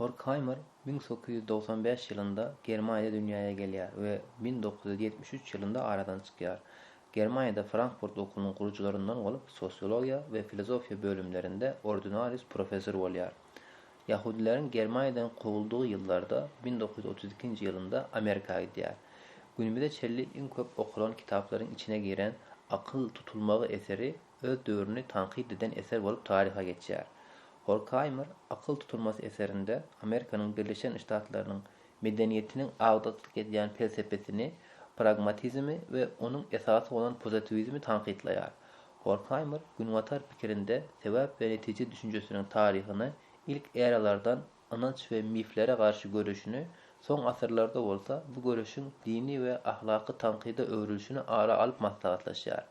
Horkheimer 1995 ýylynda Germaniýada dünýäye gelýär we 1973 ýylynda aradan çykýar. Germaniýada Frankfurt okunyň gurujylaryndan bolup, sosiologiýa we filozofiýa bölümlerinde ordinarius professor bolýar. Ýahudileriň Germaniýadan kowuldygy ýyllarda, bin dokuz ýüz otuz ikinji ýylynda Amerika gidýär. Günümize çenli iň köp okalan kitaplaryň içine giren Akyl tutulmagy eseri öz döwrüni tankyt eden eser bolup taryha geçýär. Horkaimer Akyl tutulmasy eserinde Amerikanyň Birleşen Ştatlarynyň medeniýetiniň agdyklyk edýän pelsepesini, pragmatizmi we onuň esasy bolan pozitiwizmi tankytlaýar. Horkhaymer günbatar pikirinde sebäp we netije düşünjesiniň taryhyny ilk eralardan ynanç we miflere garşy göreşini, soň asyrlarda bolsa bu göreşiň dini we ahlaky tankyda öwrülişini ara alyp maslahatlaşýar.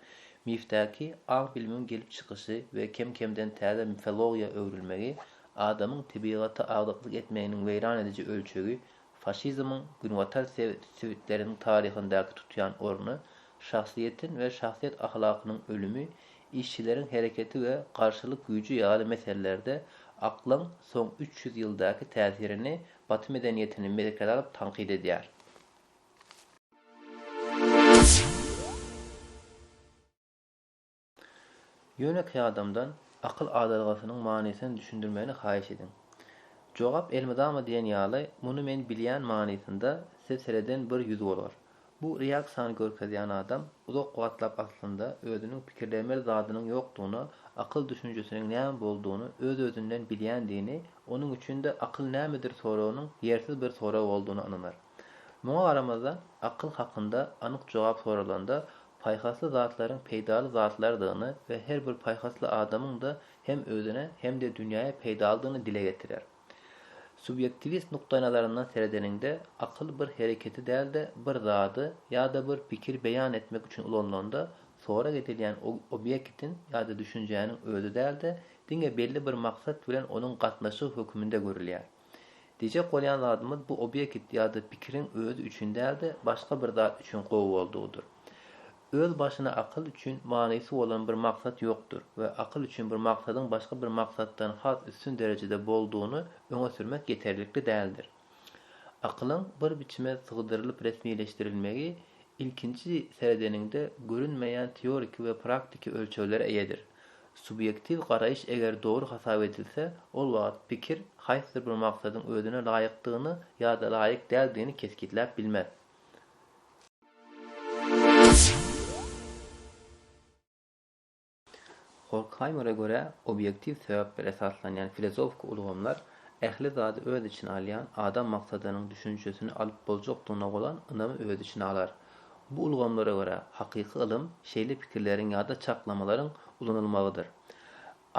Mifdäki aň-bilimiň gelip çykyşy we kem-kemden täze mifologiýa öwrülmegi, adamyň tebigata agdyklyk etmeginiň weýran ediji ölçegi Faşizmiň günbatar sebitleriniň taryhyndaky tutýan orny, şahsyýetiň we şahsyýet ahlakynyň ölümi, işçileriň hereketi we garşylyk güýji ýaly meselelerde aklyň soň üç ýüz ýyldaky täsirini baty medeniýetini merkeze alyp tankyt edýär. Ýönekeý adamdan akyl adalgasynyň manysyny düşündirmegini haýyş ediň. Jogap elmydama diýen ýaly, muny men bilýän manysynda size sereden bir ýüz bolar. Bu reaksiýany görkezýän adam uzak wagtlap aslynda özüniň pikirlemeli zadynyň ýokdugyna, akyl düşünjesiniň näme boldugyny öz-özünden bilýändigini, onuň üçin-de akyl nämedir soragynyň ýersiz bir sorag boldugyna ynanar. Muňa garamazdan, akyl hakynda anyk jogap soralanda, paýhasly zatlaryň peýdaly zatlardygyny we her bir paýhasly adamyň-da hem özüne hem-de dünýäe peýdalydygyny dile getirer. Subýektiwist nukdaýnazaryndan seredeniňde, akyl bir hereketi däl-de, bir zady ýa-da bir pikiri beýan etmek üçin ulanylanda, sorag edilýän obýektiň ýa-da düşünjäniň özi däl-de, diňe belli bir maksat bilen onuň gatnaşygy höküminde görülýär. Diýjek bolýan zadymyz bu obýekt ýa-da pikiriň özi üçin däl-de, başga bir zat üçin gowy boldugydyr. Öz başyna akyl üçin manysy bolan bir maksat ýokdur we akyl üçin bir maksadyň başga bir maksatdan has üstün derejede boldugyny öňe sürmek ýeterlikli däldir. Akylyň bir biçime sygdyrylyp resmileşdirilmegi ilkinji seredeniňde görünmeýän teoriki we praktiki ölçeglere eýedir. Subýektiw garaýyş eger dogry hasap edilse, ol wagt pikir haýsydyr bir maksadyň özüne laýykdygyny ýa-da laýyk däldigini kesgitläp bilmez. Horkhaýmere görä, obýektiw sebäplere esaslanýan filozofiki ulgamlar ähli zady öz içine alýan adam maksadynyň düşünjesini alyp boljakdygyna bolan ynamy öz içine alar. Bu ulgamlara görä, hakyky ylym şeýle pikirleriň ýa-da çaklamalaryň ulanylmagydyr.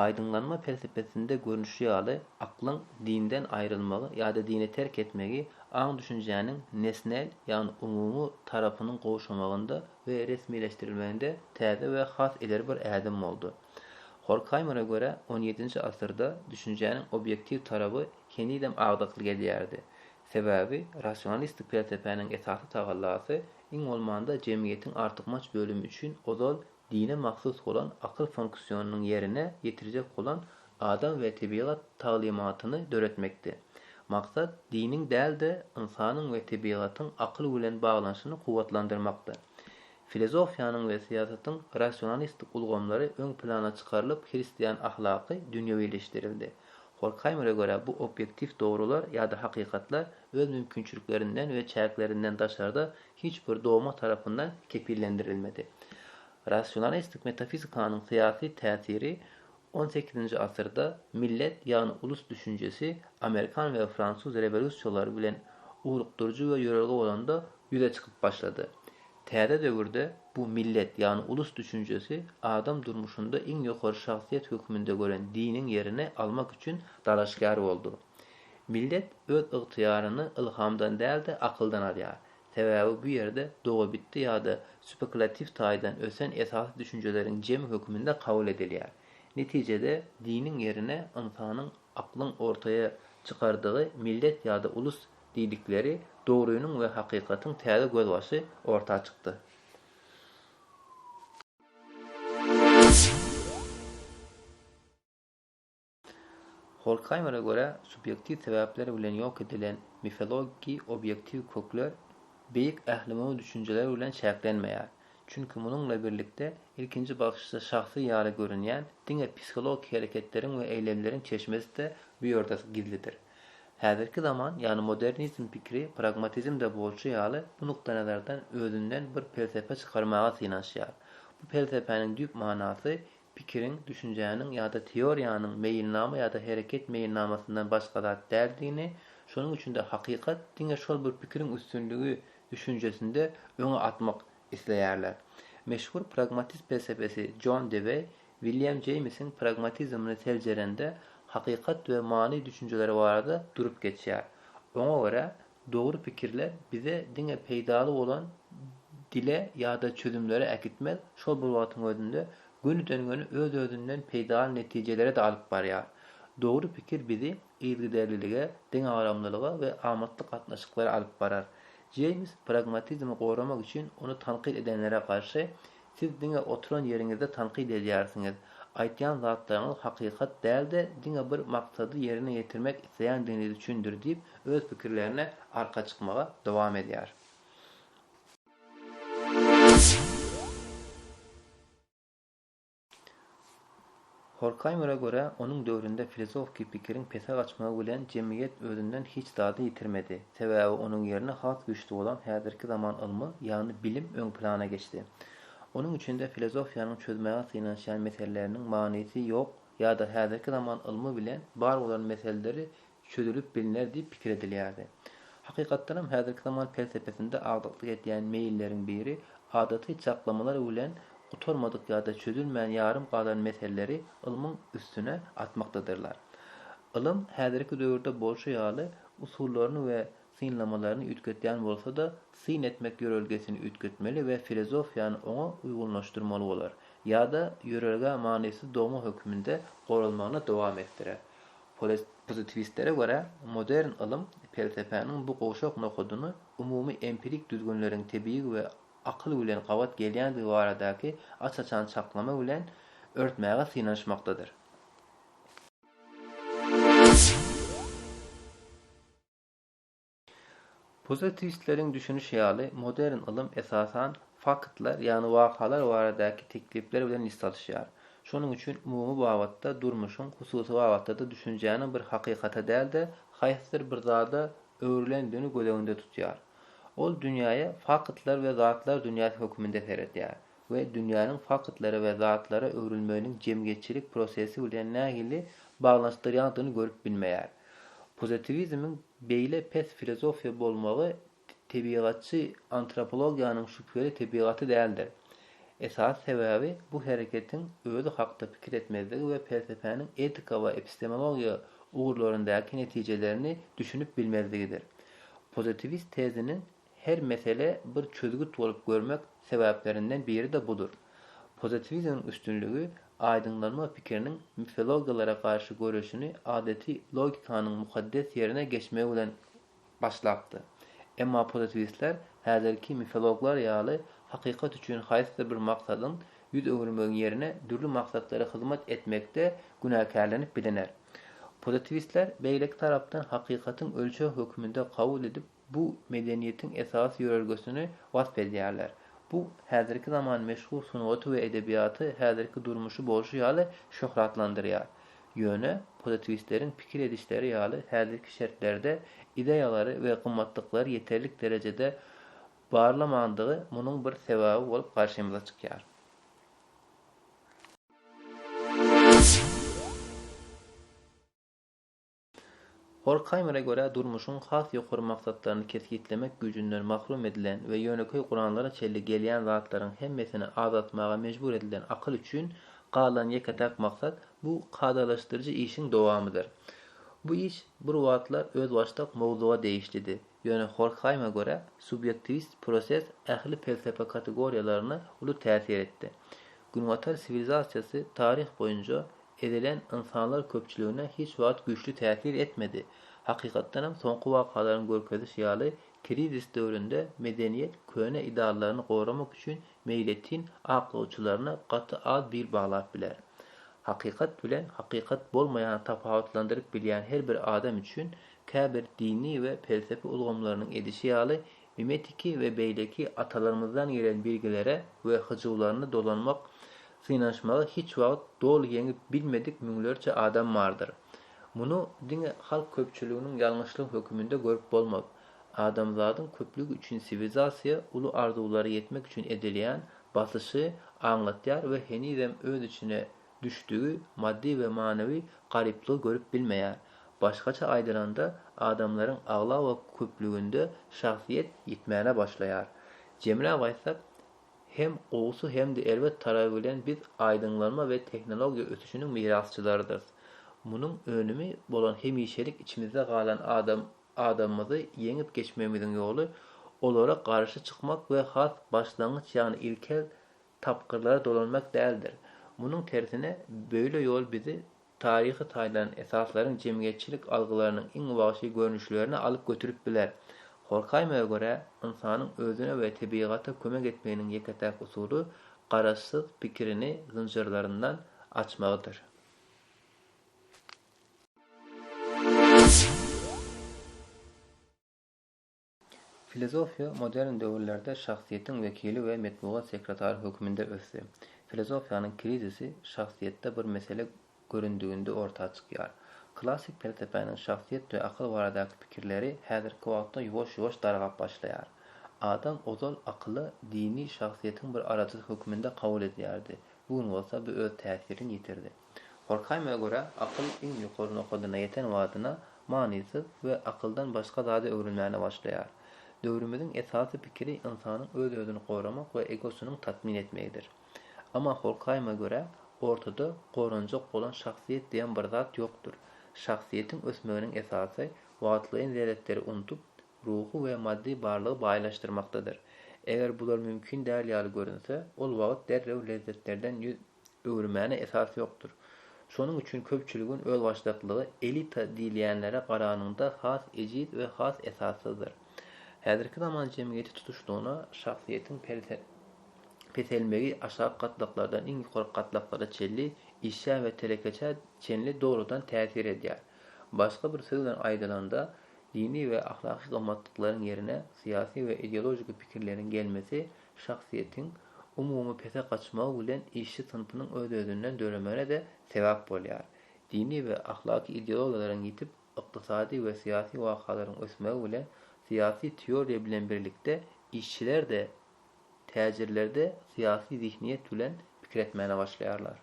Aýdyňlanma pelsepesinde görnüşi ýaly, aklyň dinden aýrylmagy ýa-da dini terk etmegi aň-düşünjäniň nesnel, ýagny umumy tarapynyň gowşamagynda we resmileşdirilmeginde täze we has ileri bir ädim boldy. Horkhaýmere görä, on ýedinji asyrda düşünjäniň obýektiw taraby henizem agdykly gelýärdi. Sebäbi rasionalistik pelsepäniň esasy tagallasy, iň bolmanda, jemgyýetiň artykmaç bölümi üçin ozal dine mahsus bolan akyl funksionynyň ýerine ýetirjek bolan adam we tebigat taglymatyny döretmekdi. Maksat diniň däl-de, ynsanyň we tebigatyň akyl bilen baglanyşyny kuwwatlandyrmakdy. Filozofiýanyň we syýasatyň rasionalistik ulgamlary öň plana çykarylyp hristian ahlaky dünýewileşdirildi. Horkhaýmere görä, bu obýektiw dogrular ýa-da hakykatlar öz mümkinçiliklerinden we çäklerinden daşarda hiç bir dogma tarapyndan kepillendirilmedi. Rasionalistik metafizikanyň syýasy täsiri on sekizinji asyrda millet, ýagny ulus düşünjesi amerikan we fransuz rewolýusiýalary bilen ugrukdyryjy we ýörelge bolanda ýüze çykyp başlady. Täze döwürde bu millet, ýagny ulus düşünjesi adam durmuşynda iň ýokary şahsyýet hökmünde gören diniň ýerini almak üçin dalaşgär boldy. Millet öz ygtyýaryny ylhamdan däl-de akyldan alýar. Sebäbi bu ýerde dogabitdi ýa-da spekulatiw taýdan ösen esasy düşünjeleriň jemi hökmünde kabul edilýär. Netijede diniň ýerine ynsanyň aklyň ortaýa çykardygy millet ýa-da ulus Diýdikleri dogrynyň we hakykatyň täze gözbaşy orta çykdy. Horkhaýmere görä, subýektiw sebäpler bilen ýok edilen mifologiki obýektiw kökler beýik ählumumy düşünjeler bilen çäklenmeýär. Çünki munuňla birlikde ilkinji bakyşda şahsy ýaly görünýän diňe psihologik hereketleriň we eýlemleriň çeşmesi-de bu ýerde gizlidir. Häzirki zaman, ýagny modernizm pikiri pragmatizmde bolşy ýaly bu nukdaýnazardan özünden bir pelsepe çykarmaga synanyşýar. Bu pelsepäniň düýp manasy pikiriň, düşünjäniň ýa-da teoriýanyň meýilnama ýa-da hereket meýilnamasyndan başga zat däldigini, şonuň üçin-de hakykat diňe şol bir pikiriň üstünligi düşünjesinde öňe atmak isleýärler. Meşhur pragmatist pelsepesi Jon Deweý William Jeýmsiň pragmatizmini seljerende hakykat we many düşünjeleri barada durup geçýär. Oňa görä, dogry pikirler bize diňe peýdaly bolan dile ýa-da çözümlere äkitmez, şol bir wagtyň özünde gönüden-göni öz-özünden peýdaly netijelere-de alyp barýar. Dogry pikir bizi yzgiderlilige, deňagramlylyga we amatly gatnaşyklara alyp barar. Jeýms pragmatizmi goramak üçin ony tankyt edenlere garşy Siz diňe oturan ýeriňizde tankyt edýärsiňiz. Aýtýan zatlaryňyz hakykat däl-de, diňe bir maksady ýerine ýetirmek isleýändigiňiz üçindir diýip, öz pikirlerine arka çykmaga dowam edýär. Horkheýmere görä, onuň döwründe filizofki pikiriň pese gaçmagy bilen jemgyýet özünden hiç zady ýitirmedi, sebäbi onuň ýerine has güýçli bolan häzirki zaman ylmy, ýagny bilim öň plana geçdi. Onuň üçin-de filozofiýanyň çözmäge synanyşýan meseleleriniň manysy ýok ýa-da häzirki zaman ylmy bilen bar bolan meseleleri çözülip bilner diýip pikir edilýärdi. Hakykatdanam, häzirki zaman pelsepesinde agdyklyk edýän meýilleriň biri adaty çaklamalar bilen gutarmadyk ýa-da çözülmän ýarym galan meseleleri ylmyň üstüne atmakdadyrlar. Ylym häzirki döwürde bolşy ýaly, usullaryny we synlamalaryny üýtgetýän bolsa-da, syn etmek ýörelgesini üýtgetmeli we filozofiýany oňa uýgunlaşdyrmaly bolar, ýa-da ýörelgä manysyz dogma hökmünde goralmagyny dowam etdirer. Pozitiwistlere görä, modern ylym pelsepäniň bu gowşak nokadyny umumy empirik düzgünleriň tebigy we akyl bilen gabat gelýändigi baradaky aç-açan çaklama bilen örtmäge synanyşmakdadyr. Pozitiwistleriň düşünişi ýaly, modern ylym esasan faktlar, ýagny wakalar baradaky teklipler bilen list alyşýar. Şonuň üçin umumy babatda durmuşyň, hususy babatda-da düşünjäniň bir hakykata däl-de, haýsydyr bir zada öwrülendigini göz öňünde tutýar. Ol dünýäe faktlar we zatlar dünýäsi hökmünde seredýär we dünýäniň faktlara we zatlara öwrülmeginiň jemgyýetçilik prosesi bilen nähili baglanyşdyrýandygyny görüp bilmeýär. Pozitiwizmiň. Beýle pes filozofiýa bolmagy tebigatçy antropologiýanyň şübheli tebigaty däldir. Esasy sebäbi bu hereketiň özi hakda pikir etmezligi we pelsepäniň etika we epistemologiýa ugurlaryndaky netijelerini düşünip bilmezligidir. Pozitiwist teziniň Her meselä bir çözgüt bolup görmek sebäplerinden biri-de budur. Pozitiwizmiň üstünligi aýdyňlanma pikiriniň mifilogiýalara garşy göreşini adaty logikanyň mukaddes ýerine geçmegi bilen başlapdy. Emma pozitiwistler häzirki mifiloglar ýaly hakykat üçin haýsydyr bir maksadyň ýüz öwürmegiň ýerine dürli maksatlara hyzmat etmekde günäkärlenip biliner. Pozitiwistler beýleki tarapdan hakykatyň ölçeg höküminde kabul edip, bu medeniýetiň esasy ýörelgesini wasp edýärler. Bu häzirki zaman meşhur sungaty we edebiýaty, häzirki durmuşy bolşy ýaly şöhratlandyrýar. Ýöne, pozitiwistleriň pikir edişleri ýaly häzirki şertlerde ideýalary we gymmatlyklary ýeterlik derejede barlamandygy munuň bir sebäbi bolup garşymyza çykýar. Horkhaýmere görä, durmuşyň has ýokary maksatlaryny kesgitlemek güýjünden mahrum edilen we ýönekeý guranlara çenli gelýän zatlaryň hemmesini az atmaga mejbur edilen akyl üçin galan ýeke-täk maksat bu kadalaşdyryjy işiň dowamydyr. Bu iş bir wagtlar özbaşdak mowzuga degişlidi, ýöne Horkhaýma görä, subýektiwist proses ähli pelsepe kategoriýalaryna uly täsir etdi. Günbatar siwilizasiýasy taryh boýunça Ezilen ynsanlar köpçüligine hiç wagt güýçli täsir etmedi. Hakykatdanam soňky wakalaryň görkezişi ýaly, krizis döwründe medeniýet köne ideallaryny goramak üçin meýletin aklawçylaryna gaty az bil baglap biler. Hakykat bilen hakykat bolmaýany tapawutlandyryp bilýän her bir adam üçin käbir dini we pelsepe ulgamlarynyň edişi ýaly Mimetiki we beýleki atalarymyzdan gelen bilgilere we hyjuwlaryny dolanmak, synanyşmagy hiç wagt doly ýeňip bilmedik müňlerçe adam bardyr. Muny diňe halk köpçüliginiň ýalňyşlygy höküminde görüp bolmaz. Adamzadyň köplügi üçin siwilizasiýa uly arzuwlara ýetmek üçin edilýän basyşy aňlatýar we henizem öz içine düşdügi maddy we manawy garyplygy görüp bilmeýär. Başgaça aýdylanda, adamlaryň aglaba köplüginde şahsyýet ýitmäne başlaýar. Jemläp aýtsak, hem gowusy hem-de erbet taraby bilen biz aýdyňlanma we tehnologiýa ösüşiniň mirasçylarydyrys. Munuň önümi bolan hemişelik içimizde galan adam adamymyzy ýeňip geçmegimiziň ýoly olara garşy çykmak we has başlangyç ýagny ilkel tapgyrlara dolanmak däldir. Munuň tersine, beýle ýol bizi taryhy taýdan esaslaryň jemgyýetçilik algylarynyň iň wagşy görnüşlerine alyp götürip biler. Horkaýmaga görä, ynsanyň özüne we tebigata kömek etmeginiň ýeke-täk usuly garaşsyz pikirini zynjyrlaryndan açmagydyr. Filozofiýa modern döwürlerde şahsyýetiň wekili we metbugat sekretary hökmünde ösdi. Filozofiýanyň krizisi şahsyýetde bir mesele göründiginde orta çykýar. Klassyk pelsepäniň şahsyýet we akyl baradaky pikirleri häzirki wagtda ýuwaş-ýuwaş dargap başlaýar. Adam ozal akyly dini şahsyýetiň bir arajysy hökmünde kabul edýärdi, bu gün bolsa bu öz täsirini ýitirdi. Horkheime görä, akyl iň ýokary nokadyna ýeten wadyna manysyz we akyldan başga zady öwrenmäne başlaýar. Döwrümiziň esasy pikiri ynsanyň öz-özüni goramak we egosynyň tatmin etmegidir. Emma Horkheime görä, ortada goranjak bolan şahsyýet diýen bir zat ýokdur. Şahsyýetiň ösmeginiň esasy wagtlaýyn zeretleri unudyp, ruhy we maddy barlygy baýlaşdyrmakdadyr. Eger bular mümkin däl ýaly görünse, ol wagt derrew lezzetlerden ýüz Öwürmäne esas ýokdur. Şonuň üçin köpçüligiň özbaşdaklygy elita diýilýänlere garanyňda has ejiz we has esassyzdyr. Häzirki zaman jemgyýeti tutuşlygyna şahsyýetiň peselmegi aşak gatlaklardan iň ýokary gatlaklara çenli, işşä we telekeçä çenli dogrudan täsir edýär. Başga bir söz bilen aýdylanda, dini we ahlaky gymmatlyklaryň ýerine syýasy we ideologiki pikirleriň gelmesi şahsyýetiň umumy pese gaçmagy bilen işçi synpynyň öz-özünden döremegine-de sebäp bolýar. Dini we ahlaky ideologiyalaryň ýitip, ykdysady we syýasy wakalaryň ösmegi bilen, syýasy teoriýa bilen birlikde işçiler-de, täjirler-de syýasy zihniýet bilen pikir etmäne başlaýarlar.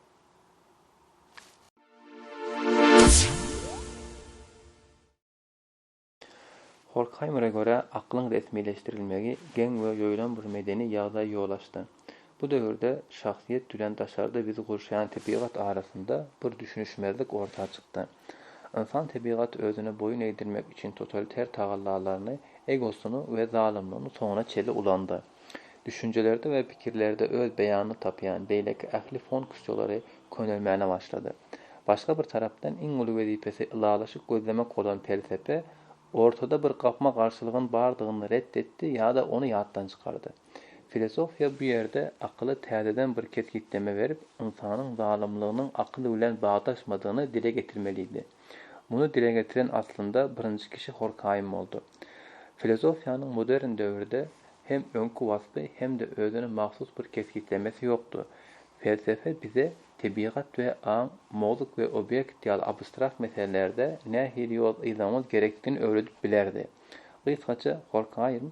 Horkhaýmere görä, aklyň resmileşdirilmegi geň we ýoýlan bir medeni ýagdaý ýol açdy. Bu döwürde şahsyýet bilen daşarda bizi gurşaýan tebigat arasynda bir düşünişmezlik orta çykdy. Ynsan tebigat özüne boýun egdirmek üçin totaliter tagallalaryny, egosyny we zalymlygyny soňuna çenli ulandy. Düşünjelerde we pikirlerde öz beýanyny tapýan beýleki ähli fonksiýalary könelmäne başlady. Başga bir tarapdan iň uly wezipesi ylalaşyk gözlemek bolan pelsepe ortada bir gapma-garşylygyň bardygyny ret etdi ýa-da ony ýatdan çykardy. Filosofiýa bu ýerde akyla täzeden bir kesgitleme berip, ynsanyň zalymlygynyň akyl bilen bagdaşmadygyny dile getirmelidi. Muny dile getiren aslynda birinji kişi Horkaýym boldy. Filozofiýanyň modern döwürde hem öňki waspy hem-de özüne mahsus bir kesgitlemesi ýokdy. Pelsepe bize tebigat we aň, mowzuk we obýekt ýaly abstrakt meselelerde nähili ýol yzlamamyz gerekdigini öwredip bilerdi. Gysgaça Horkaýym.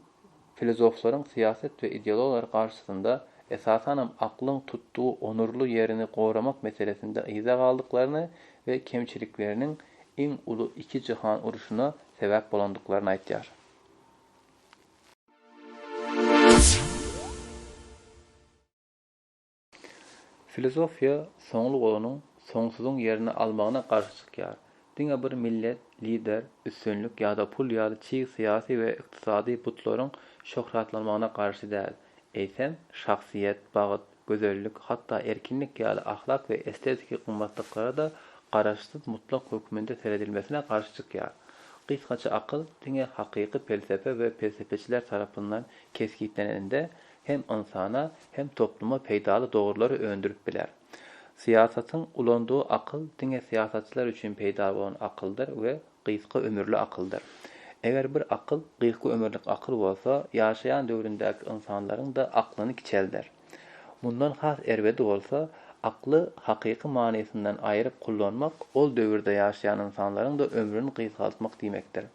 Filozoflaryň syýasat we ideologlary garşysynda, esasanam aklyň tutdugy onurly ýerini goramak meselesinde yza galdyklaryny we kemçilikleriniň iň uly iki jyhan urşuna sebäp bolandyklaryny aýdýar. Filosofiýa soňlugynyň soňsuzyň ýerini almagyna garşy çykýar. Diňe bir millet, lider, üstünlik ýa-da pul ýaly çig syýasy we ykdysady butlaryň şöhratlanmagyna garşy däl, eýsem, şahsyýet, bagt, gözellik, hatda erkinlik ýaly ahlak we estetiki gymmatlyklara-da garaşsyz mutlak hökmünde seredilmesine garşy çykýar. Gysgaça akyl diňe hakyky pelsepe we pelsepeçiler tarapyndan kesgitlenende hem ynsana, hem topluma peýdaly dogrulary öndürip biler. Syýasatyň ulandygy akyl diňe syýasatçylar üçin peýdaly bolan akyldyr we gysga ömürli akyldyr. Eger bir akyl gysga ömürlik akyl bolsa, ýaşaýan döwründäki ynsanlaryň-da aklyny kiçelder. Mundan has erbedi bolsa, akly hakyky manysyndan aýryp kullanmak ol döwürde ýaşaýan ynsanlaryň-da ömrüni gysgaltmak diýmekdir.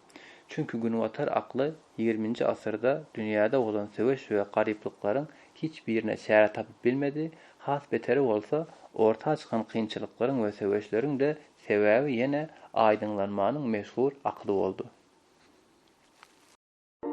Çünki günbatar akly ýigriminji asyrda dünýäde bolan söweş we garyplyklaryň hiç birine çäre tapyp bilmedi, has beteri bolsa, orta çykan kynçylyklaryň we söweşleriň-de sebäbi ýene aýdyňlanmanyň meşhur akyly boldy.